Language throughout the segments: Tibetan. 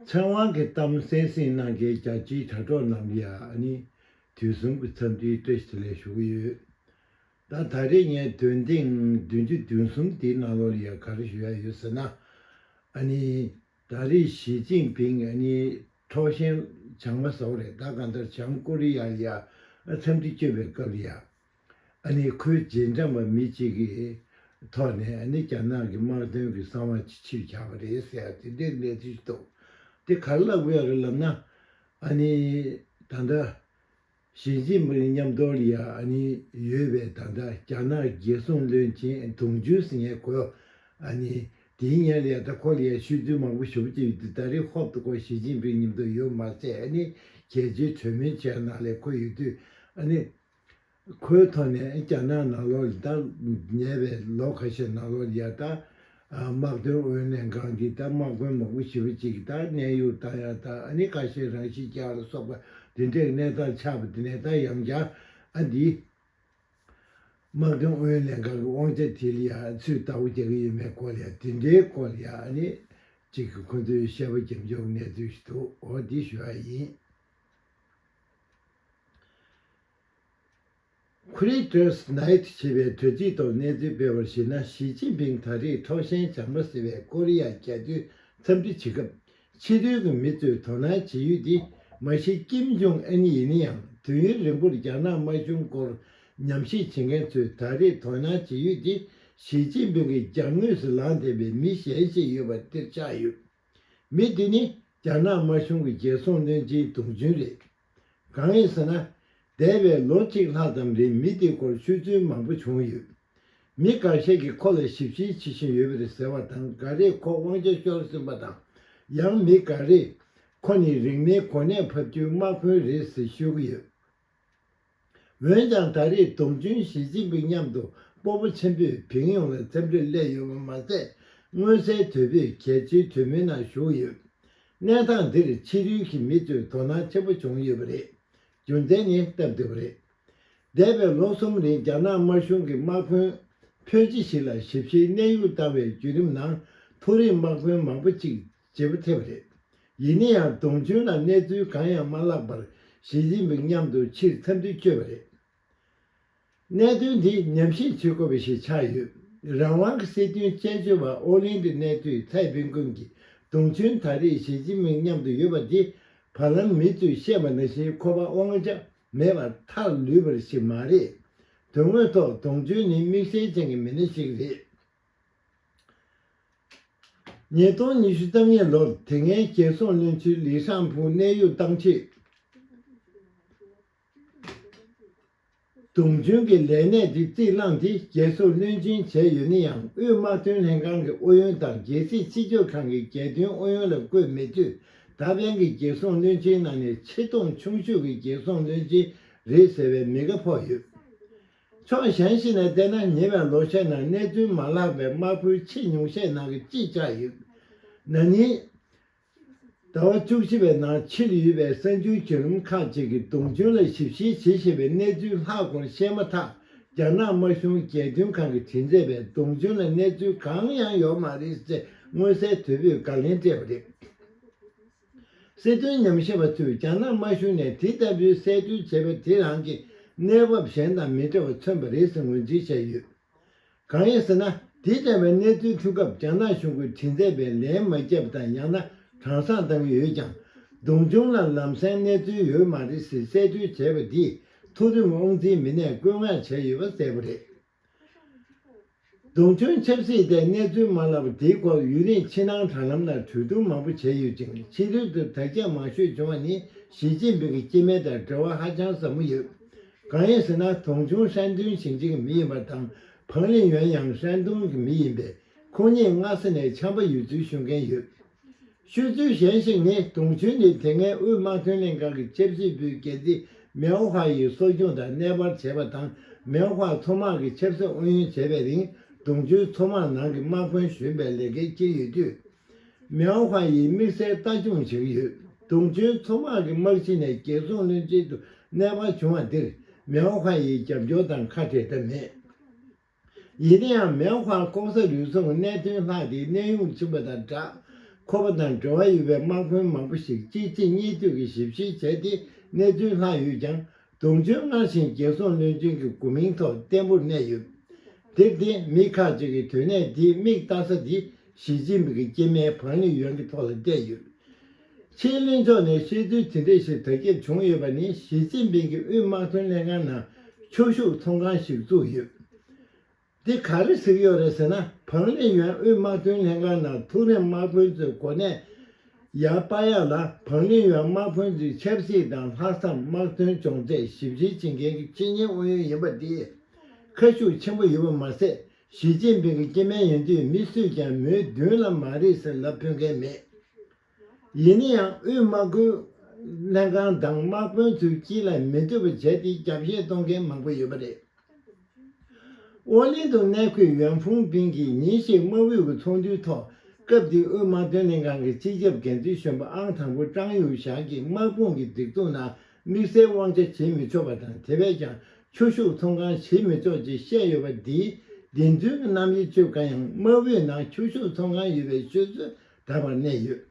ཚེ་དབང་གི་གཏམ་གསན་སྲིང་གནང་མཁན་རྒྱལ་སྤྱིའི་དྲ་གྲོགས་རྣམས་ཀྱིས་ནི་དུས་གསུམ་གྱི་འཚམས་འདྲིའི་སྤྲོ་སྐྱིད་ལས་ཞུགས་ཀྱི་ཡོད། ད་ད་རེས་ངས་དོན་ཐེངས་བདུན་ཅུ་བདུན་གསུམ་དེའི་ནང་ལོགས་ལ་ཡང་ག་རེ་ཞུ་ཡ་ཡོད་ཟེར་ན། ནི། ད་རེས་ཞི་ཅིང་ཕིང་ནི་འཕྲོག་ཞེན་བྱང་མ་ཟོག་རེད་ད་གང་ལྟར་བྱང་ཀོ་རི་ཡར་ཡང་འཚམས་འདྲི་བསྐྱོན་པའི་སྐབས་ལ་ཡང། ནི་ཁོའི་རྗེས་འབྲངས་པ་མི་གཅིག་གིས་ཐོག་ནས་ནི་རྒྱ་ནག་གི་དམག་དོན་གྱི་གསང་བ་ཅི་ཕྱིར་བཞག་པ་རེད་ཟེར་བ་དེ་འདྲའི་གནས་ཚུལ་ཞིག་འདུག་དེ་གར་བཀླགས་པའི་རིགས་ལབ་ན། ནི་ད་ལྟ། ཞི་ཅིན་ཕིང་མཉམ་སྡོད་ལ་ནི་ཡོད་པའི་ད་ལྟ་རྒྱ་ནག་རྒྱལ་སྲུང་བློན་ཆེན་དུང་ཅུན་སིན་ཡང་གོ། ནི་དེའི་སྙན་ལས་ད་ཁོ་ལ་ཡང་ཤུལ་རྫུན་མང་པོ་ཞུ་གི་ཡོད་དུས་ད་རེ་ཧོབ་ཏུ་ཁོ་ཞི་ཅིན་ཕིང་ཉིད་དུ་ཡོད་མ་ཚད་ནི་གལ་ཆེའི་གྲོས་མོལ་བྱས་ནང་ལས་ཁོ་ཡོད་དུས་ནི། ཁོའི་ཐོག་ནས་རྒྱ་ནག་ནག་ལོག་རི་དྭགས་ཉེས་པའི་ལོ་ཁ་ཤས་ནག་ལོག་རི་ཡར་དྭགས་དམག་དོན་ཨུ་ཡོན་ལྷན་ཁང་གི་དང་དམག་དཔོན་མང་པོ་ཞི་བ་གཅིག་གི་དང་གནས་ཡུལ་དང་ཡར་དྭགས་ཨ་ནི་ཀ་ཤའི་རང་ཤི་ཅང་ལ་སོགས་པ་དེ་འདྲའི་གནས་སྟངས་ཆགས་པ་དེ་ནས་ད་ཡང་རྒྱ་ཨ་འདིས་དམག་དོན་ཨུ་ཡོན་ལྷན་ཁང་གི་དབང་ཆ་དེ་ལ་ཡང་ཚུད་ལྟ་བུ་རྒྱག་གི་ཡོད་མེད་སྐོར་ལ་ཡང་དེ་འདྲའི་སྐོར་ལ་ཡང་ཨ་ནི་གཅིག་གིས་ཁོ་ཚོའི་བཤད་པ་རྒྱབ་འཇོག་གི་གནས་ཚུལ་ཞིག་འདུག་འོ་དེ་ཞུ་བ་ཡིན། Creators Night ཞེས་པའི་དུས་ཚིགས་ཐོག་གནས་ཚུལ་སྤེལ་བར་གཞིགས་ན་ཞི་ཅིན་ཕིང་ད་རེས་འཕྲོག་ཞེན་བྱང་མ་ཟེར་བའི་ཀོ་རི་ཡ་རྒྱལ་སྟོད་འཚམས་འདྲི་བྱེད་སྐབས་ཕྱི་རོལ་གྱི་མི་ཚོས་དོ་སྣང་བྱེད་ཡུལ་དེ་མ་གཞི་ཀེམ་ཇོང་ཨན་ཡིན་ན་ཡང་དུས་ཡུན་རིང་པོར་རྒྱ་ནག་དམར་གཞུང་སྐོར་ཉམས་ཞིབ་བྱེད་མཁན་ཚོས་ད་རེས་དོ་སྣང་བྱེད་ཡུལ་དེ་ཞི་ཅིན་ཕིང་གི་རྒྱབ་ངོས་སུ་ལངས་བསྡད་པའི་མི་གཞན་ཞིག་ཡོད་པ་དེར་ཆགས་ཡོད། མི་དེ་ནི་རྒྱ་ནག་དམར་གཞུང་གི་རྒྱལ་སྲུང་བློན་ཆེན་དུང་ཅུན་རེད། གང་ཡིན་ཟེར་ན། འདས་པའི་ལོ་གཅིག་ལྷག་ཙམ་རིང་མི་དེའི་སྐོར་ཤོད་ཚུལ་མང་པོ་བྱུང་ཡོད། མི་འགའ་ཤས་ཀྱིས་ཁོ་ལ་ཞིབ་བཤེར་བྱེད་བཞིན་ཡོད་པ་རེད་ཟེར་བ་དང་འགའ་རེས་ཁོ་དབང་ཆ་ཤོར་ཟིན་པ་དང། ཡང་མི་འགའ་རེས། ཁོ་ནི་རིག་གནས་གོ་གནས་ཕབ་རྒྱུའི་དམག་དཔོན་རེད་ཟེར་ཤོད་ཀྱི་ཡོད། འོན་ཀྱང་ད་རེས་ཏུང་ཅུན་ཞི་ཅིན་ཕིང་མཉམ་དུ་སྤོ་པོ་ཆེན་པོས་བིང་ཡོང་ལ་འཚམས་འདྲི་སླད་ཡོད་པ་མ་ཟད། མངོན་གསལ་དོད་པོས་གལ་ཆེའི་གྲོས་མོལ་ནང་ཞུགས་ཡོད། གནས་སྟངས་འདིར་ཕྱི་རོལ་གྱི་མི་ཚོས་དོ་སྣང་ཆེན་པོ་བྱུང་ཡོད་པ་རེད། རྒྱུ་མཚན་ནི་སྟབས་བདེ་བ་རེད། འདས་པའི་ལོ་གསུམ་རིང་རྒྱ་ནག་དམར་གཞུང་གིས་དམག་དཔོན་ཕོན་ཅི་ཞིག་ལ་ཞིབ་བཤེར་གནས་དབྱུག་བཏང་བའི་བརྒྱུད་རིམ་ནང་མཐོ་རིམ་དམག་དཔོན་མང་པོ་གཅིག་བྱེད་པོ་ཐེབས་རེད། ཡིན་ན་ཡང་དུང་ཆོན་ལ་གནས་ཚུལ་གང་ཡང་མ་བརླགས་པར་ཞི་ཅིན་ཕིང་མཉམ་དུ་ཕྱིར་འཚམས་འདྲི་བསྐྱོད་པ་རེད། གནད་དོན་འདི་ཉམས་ཞིབ་བྱེད་དགོས་པ་ཞིག་ཆགས་ཡོད། རང་དབང་གི་སྲིད་དོན་དཔྱད་བརྗོད་པ་ཨོ་ལིན་གྱི་གནས་དུས་ཚའེ་པིན་ཀུན་གྱིས་དུང་ཆོན་ད་རེས་ཞི་ཅིན་ཕིང་མཉམ་དུ་ཡོད་པ་འདི་བར་ལམ་མི་ཚོས་བཤད་པ་ནང་བཞིན་ཁོ་པ་དབང་ཆ་མེད་པར་ཐག་ལུས་པར་ཞིག་མ་རེད། དོན་དངོས་ཐོག་དུང་ཆོན་ནི་དམིགས་བསལ་ཅན་གྱི་མི་སྣ་ཞིག་རེད། ཉིས་སྟོང་ཉི་ཤུ་རྩ་གཉིས་ལོར་དེ་སྔའི་རྒྱལ་སྲུང་བློན་ཆེན་ལི་ཧྲན་ཕུའུ་གནད་གཡོག་བཏང་རྗེས། དུང་ཕྱུར་གྱི་ལས་གནས་དེ་རྩིས་བླངས་ཏེ་རྒྱལ་སྲུང་བློན་ཆེན་བྱས་ཡོད་ན་ཡང་དབུས་དམག་དོན་ལྷན་ཁང་གི་ཨུ་ཡོན་དང་རྒྱལ་སྲིད་སྤྱི་སྤྱོད་ཁང་གི་རྒྱལ་དོན་ཨུ་ཡོན་ལ་བསྐོས་མེད་དུས་ད་ཕན་གྱི་རྒྱལ་སྲུང་བློན་ཆེན་ནང་ནས་ཆེས་མཐོང་ཆུང་ཤོས་ཀྱི་རྒྱལ་སྲུང་བློན་ཆེན་རེད་ཟེར་བའི་མི་ག་ཕོག་ཡོད། ཕྱོགས་གཞན་ཞིག་ནས་བལྟས་ན་ཉེ་བའི་ལོ་ཤས་ནང་གནས་ཚུལ་མ་བརླགས་པའི་དམག་ཁུལ་ཆེས་ཉུང་ཤས་ནང་གི་གཅིག་ཆགས་ཡོད། ན་ནིང་ཟླ་བ་བཅུ་བཞི་པའི་ནང་ཕྱིར་ཡུལ་བའི་སྲན་ཆུང་བྱུས་རིམ་ཁག་ཅིག་གིས་དུང་ཆུང་ལ་ཞིབ་བཤེར་བྱེད་བཞིན་པའི་གནས་ཚུལ་ལྷག་སྐོར་བཤད་མ་ཐག་རྒྱ་ནག་དམར་གཞུང་རྒྱལ་དོན་ཁང་གི་དྲིན་མཛད་པས་དུང་ཆུང་ལ་གནས་ཚུལ་གང་ཡང་ཡོད་མ་རེད་ཅེས་མངོན་གསལ་དོད་པོས་དགག་ལན་སྤྲད་པ་རེད། སྲིད་དོན་ཉམས་ཞིབ་པ་ཚོས་རྒྱ་ནག་དམར་གཞུང་ནས་དེ་ལྟ་བུའི་གསལ་བསྟོད་བྱས་པ་དེ་རང་གི་གནས་བབ་གཞན་དང་མི་འདྲ་བ་མཚོན་པ་རེད་ཟེར་ངོས་འཛིན་བྱས་ཡོད། གང་ཡིན་ཟེར་ན་དེ་ལྟ་བའི་གནས་ཚུལ་ཐོན་སྐབས་རྒྱ་ནག་གཞུང་གིས་དྲི་མཛད་པའི་ལན་མ་བརྒྱབ་དང་ཡང་ན་དྲང་སང་བཏང་ཡོད་ཀྱང་སྡུག་སྦྱོང་ལ་ལམ་སེང་གནས་ཚུལ་ཡོད་མ་རེད་ཟེར་གསལ་བསྟོད་བྱས་པ་འདིས་མཐོ་རིམ་དབང་འཛིན་མི་སྣས་བཀོད་མངགས་བྱས་ཡོད་པ་གསལ་པོ་རེད། རྡུང་ཐོན་ཆབ་སྲིད་དེ་གནས་ཚུལ་མ་ལག་དེའི་སྐོར་ཡུན་རིང་ཕྱི་ནང་དྲ་ལམ་ནང་གྲོས་བསྡུར་མང་པོ་བྱས་ཡོད་ཅིང་ཕྱི་རོལ་དུ་དྲ་རྒྱ་མང་ཤོས་བྱུང་བ་ནི་ཞི་ཅིན་ཕིང་གི་སྐྱེས་དམན་དང་འབྲེལ་བ་ཧ་ཅང་ཟབ་མོ་ཡོད། གང་ཡིན་ཟེར་ན་དུང་ཆུང་ཧྲན་ཏུན་ཞིང་ཆེན་གྱི་མི་ཡིན་པ་དང་ཕང་ལིན་ཡོན་ཡང་ཧྲན་ཏུང་གི་མི་ཡིན་པས་ཁོང་གཉིས་སྔ་ས་ནས་འཆམ་པ་ཡོད་ཚུལ་ཤོད་མཁན་ཡོད། ཤོད་ཚུལ་གཞན་ཞིག་ནི་དུང་ཆོས་ནི་དེ་སྔའི་དབུས་དམག་ཐོན་ལས་ཁང་གི་ཆབ་སྲིད་པུའི་འགན་འཛིན་མེའོ་ཧྭ་ཡིས་གསོ་སྐྱོང་དང་གནས་སྤར་བྱས་པ་དང་མེའོ་ཧྭ་མཚོ་དམག་གི་ཆབ་སྲིད་ཨུ་ཡོན་བྱས་པའི་རིང་དུང་ཆོས་མཚོ་དམག་ནང་གི་དམག་དཔོན་གཞོན་པའི་ལས་འགན་ཁྱེར་ཡོད་དུས། མེའོ་ཧྭ་ཡིས་དམིགས་བསལ་ལྟ་སྐྱོང་བྱེད་ཀྱི་ཡོད། དུང་ཆོས་མཚོ་དམག་གི་དམག་སྤྱི་ནས་རྒྱལ་སྲུང་བློན་ཆེན་དུ་གནས་སྤར་བྱུང་བ་འདིར་མེའོ་ཧྭ་ཡིས་རྒྱབ་སྐྱོར་དང་ཁ་བྲལ་ཐབས་མེད། ཡིན་ན་ཡང་མེན་ཧུའང་ཀོང་ས་ལུའི་ཚོང་གི་གནད་དོན་ལྷག་དེའི་གནས་དབྱུང་ཕྱིན་པ་དང་སྦྲགས། ཁོ་པ་དང་འབྲེལ་བ་ཡོད་པའི་དམག་དཔོན་མང་པོ་ཞིག་གཅིག་རྗེས་གཉིས་མཐུད་ཀྱིས་ཞིབ་བཤེར་བྱས་ཏེ་གནས་ཚུལ་ལྷག་ཡོད་ཀྱང་དུང་ཕྱུར་སྔར་བཞིན་རྒྱལ་སྲུང་བློན་ཆེན་གྱི་དགོས་མིང་ཐོག་བརྟན་པོར་གནས་ཡོད། དེར་བརྟེན་མི་ཁག་ཅིག་གིས་དོན་གནད་འདིའི་མིག་ལྟ་ས་དེ་ཞི་ཅིན་ཕིང་གི་སྐྱེས་མའི་བང་ལི་ཡོན་གྱི་ཐོག་ལ་བལྟས་ཡོད། ཕྱི་གླིང་ཕྱོགས་ནས་ཤེས་ཚུལ་ཇི་འདྲས་ཤིག་དར་ཁྱབ་བྱུང་ཡོད་པ་ནི་ཞི་ཅིན་ཕིང་གིས་དབུས་དམག་དོན་ལྷན་ཁང་ནང་ཁྱོ་ཤུག་ཚོང་ཁང་ཞིག་བཙུགས་ཡོད། འདི་ག་རེ་གཟིགས་ཡོད་རེད་ཟེར་ན་བང་རིན་ཡོན་དབུས་དམག་དོན་ལྷན་ཁང་ནང་ཐུགས་རེམ་དམག་དཔོན་ཚོའི་གོ་གནས། ཡང་དཔའ་ཡག་ལ་བང་རིན་ཡོན་དམག་དཔོན་ཚོའི་ཆབ་སྲིད་དང་ལྷག་བསམ་དམག་དོན་སྦྱོང་ཚད་ཞིབ་འབྲི་བྱེད་མཁན་གྱི་ཆེད་གཉེར་ཨུ་ཡོན་ཡིན་པ་འདིས་ཁ་ཤུགས་ཆེན་པོ་ཡོད་པ་མ་ཟད་ཞི་ཅིན་ཕིང་གི་སྐྱེས་དམན་ཡིན་དུས་མི་སུས་ཀྱང་མོའི་མདུན་ལམ་མ་རིག་ཟེར་ལབ་ཕོད་མཁན་མེད། ཡིན་ན་ཡང་དབུས་དམག་ཁུལ་ལྷན་ཁང་དང་དམག་དཔོན་ཚོས་སྤྱི་ལ་མི་འཐུས་པ་བྱས་ཏེ་རྒྱབ་བཤད་གཏོང་མཁན་མང་པོ་ཡོད་པ་རེད། ཨོ་གླིང་དུ་གནས་འཁོད་ཡོན་ཧྥུང་པིང་གིས་ཉིན་ཞིག་དམག་དབུས་ཀྱི་ཚོགས་འདུའི་ཐོག་སྐབས་དེའི་དབུས་དམག་དོན་ལྷན་ཁང་གི་སྤྱི་ཁྱབ་འགན་འཛིན་གཞོན་པ་ཨང་དང་པོ་ཀྲང་ཡུས་ཞག་གིས་དམག་དཔུང་གི་སྒྲིག་འཛུགས་ནང་དམིགས་བསལ་དབང་ཆ་བྱེད་མི་ཆོག་པ་དང་དེ་བས་ཀྱང་ཁྱོ་ཤུག་ཚོང་ཁང་བྱེད་མི་ཆོག་ཅེས་བཤད་ཡོད་པ་འདིས་བདེན་རྫུན་གྱི་རྣམ་དབྱེ་ཆོད་དཀའ་ཡང་དམག་བུའི་ནང་ཁྱོ་ཤུག་ཚོང་ཁང་ཡོད་པའི་ཤོད་སྲོལ་དར་བར་གནས་ཡོད།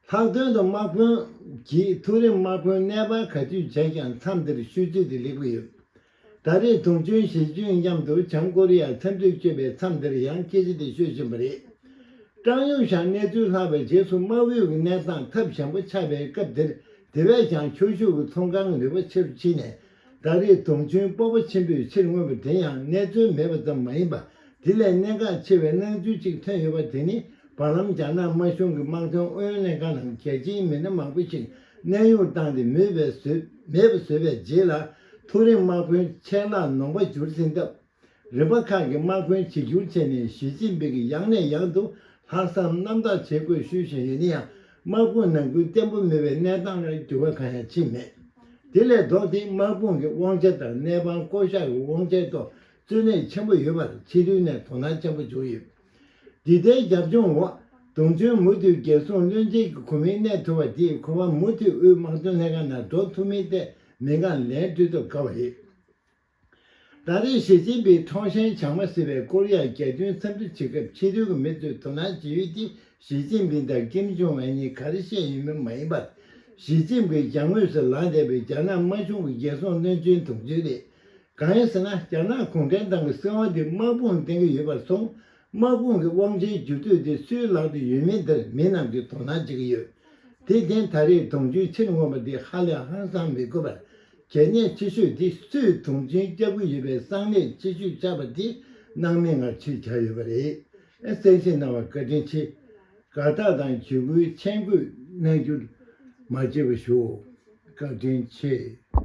ལྷག་དོན་དུ་དམག་དཔོན་གྱིས་ཐུགས་རེ་དམག་དཔོན་གནས་སྤར་ག་དུས་བྱས་ཀྱང་མཚམས་འདིར་ཤོད་ཚུལ་དེ་ལེགས་པོ་ཡོད། ད་རེས་དུང་ཆོན་ཞེ་ཅུན་མཉམ་དུ་བྱང་ཀོ་རི་ཡར་འཚམས་འདྲི་བསྐྱོད་པའི་མཚམས་འདིར་ཡང་སྐད་ཆ་དེ་ཤོད་བཞིན་པ་རེད། ཀྲང་ཡུང་ཞང་གནས་ཚུལ་ལྷག་པའི་རྗེས་སུ་དམག་ཨུའི་གནས་སྟངས་ཐབས་བྱང་པོ་ཆགས་པའི་སྐབས་དེར་དེ་བས་ཀྱང་ཁྱོ་ཤུག་གི་ཚོང་ཁང་རིག་པ་ཆེ་རུ་ཕྱིན་ནས་ད་རེས་དུང་ཆོན་སྤོབས་པ་ཆེན་པོས་ཕྱིར་མངོན་པ་དེ་ཡང་གནས་ཚུལ་མེད་པ་ཙམ་མ་ཡིན་པ་དེ་ལས་གནད་འགག་ཆེ་བའི་སྣང་ཚུལ་གཅིག་ཐོན་ཡོད་པ་དེ་ནི་བར་ལམ་རྒྱ་ནག་དམར་གཞུང་གི་དམག་དོན་ཨུ་ཡོན་ལྷན་ཁང་ནང་རྒྱལ་སྤྱིའི་མི་སྣ་མང་པོ་ཞིག་གནས་དབྱུང་བཏང་སྟེ་མོས་པས་བཟོས་མེད་པ་བཟོས་པའི་རྗེས་ལ། ཐུགས་རེ་དམག་དཔོན་ཆེད་ལ་ནོངས་པ་བསྒྱུར་ཟིན་སྟབས། རིམ་པ་ཁག་གི་དམག་དཔོན་བྱེ་འགྱུར་ཆེ་ནས་ཞི་ཅིན་པིག་གི་ཡང་ནས་ཡང་དུ་ལྷག་བསམ་རྣམ་དག་བྱེད་དགོས་ཞུས་བཞིན་ཡོད་ན་ཡང་དམག་དཔུང་ནང་ཁུལ་བརྟན་པོ་མེད་པའི་གནས་སྟངས་ལ་འགྱུར་བ་གང་ཡང་ཕྱིན་མེད། དེ་ལས་ལྡོག་སྟེ་དམག་དཔུང་གི་དབང་ཆ་དང་གནས་དཔང་བསྐོ་གཞག་གི་དབང་ཆའི་ཐོག་རྩོད་གླེང་ཆེན་པོ་ཡོད་པར་ཕྱི་རོལ་ནས་དོ་སྣང་ཆེན་པོ་བྱུང་ཡོད། འདི་ལྟའི་རྒྱབ་ལྗོངས་འོག་དུང་ཆོས་མུ་མཐུད་རྒྱལ་སྲུང་བློན་ཆེན་གྱི་གོ་མིང་གནས་ཐུབ་པ་དེས་ཁོ་བ་མུ་མཐུད་དབུས་དམག་དོན་ལྷན་ཁང་ནང་འགྲོ་ཐུབ་མིན་ཐད་མི་འགངས་ལན་སྤྲོད་ཐུབ་དཀའ་བ་རེད། ད་རེས་ཞི་ཅིན་ཕིང་ཁྲོང་ཧྲན་བྱང་མ་སི་པའི་ཀོ་རི་ཡ་རྒྱལ་སྟོན་འཚམས་འདྲི་བྱེད་སྐབས་ཕྱི་རོལ་གྱི་མི་ཚོས་དོ་སྣང་བྱེད་ཡུལ་དེ་ཞི་ཅིན་ཕིང་དང་ཀེམ་ཇོང་ཨན་གཉིས་ག་རེ་བཤད་ཡོད་མེད་མ་ཡིན་པར། ཞི་ཅིན་ཕིང་གྱང་ངོས་སུ་ལངས་བསྡད་པའི་རྒྱ་ནག་དམར་གཞུང་གི་རྒྱལ་སྲུང་བློན་ཆེན་དུང་ཆོས་རེད། གང་ཡིན་ཟེར་ན་རྒྱ་ནག་གུང་ཁྲན་ཏང་གི་སྲིད་དབང་དེ་དམག་དཔུང་སྟེང་གི་ཡོད་པར་སོང། དམག་དཔུང་གི་དབང་ཆའི་རྒྱུ་སྤྲོད་དེ་སུའི་ལག་ཏུ་ཡོད་མེད་དེར་མི་རྣམས་ཀྱིས་དོ་སྣང་བྱེད་ཀྱི་ཡོད། དེ་བརྟེན་ད་རེས་དུང་ཕྱུར་ཕྱིར་མངོན་པ་འདི་ཧ་ལས་ཧང་སང་མི་དགོས་པར། གལ་གནད་ཆེ་ཤོས་དེ་སུས་དུང་ཕྱུར་བསྐྱབས་ཀྱི་ཡོད་པའི་གསང་གནད་ཆེ་ཤོས་ཆགས་པ་དེ་སྣང་མེད་ངང་ཕྱིར་གྱར་ཡོད་པ་རེད། གསལ་བཤད་གནང་བར་བཀའ་དྲིན་ཆེ། དགའ་རྟགས་དང་ཇུས་འགོད་མཆན་འགོད་གནང་རྒྱུར་མ་བརྗེད་པར་ཞུའོ། བཀའ་དྲིན་ཆེ།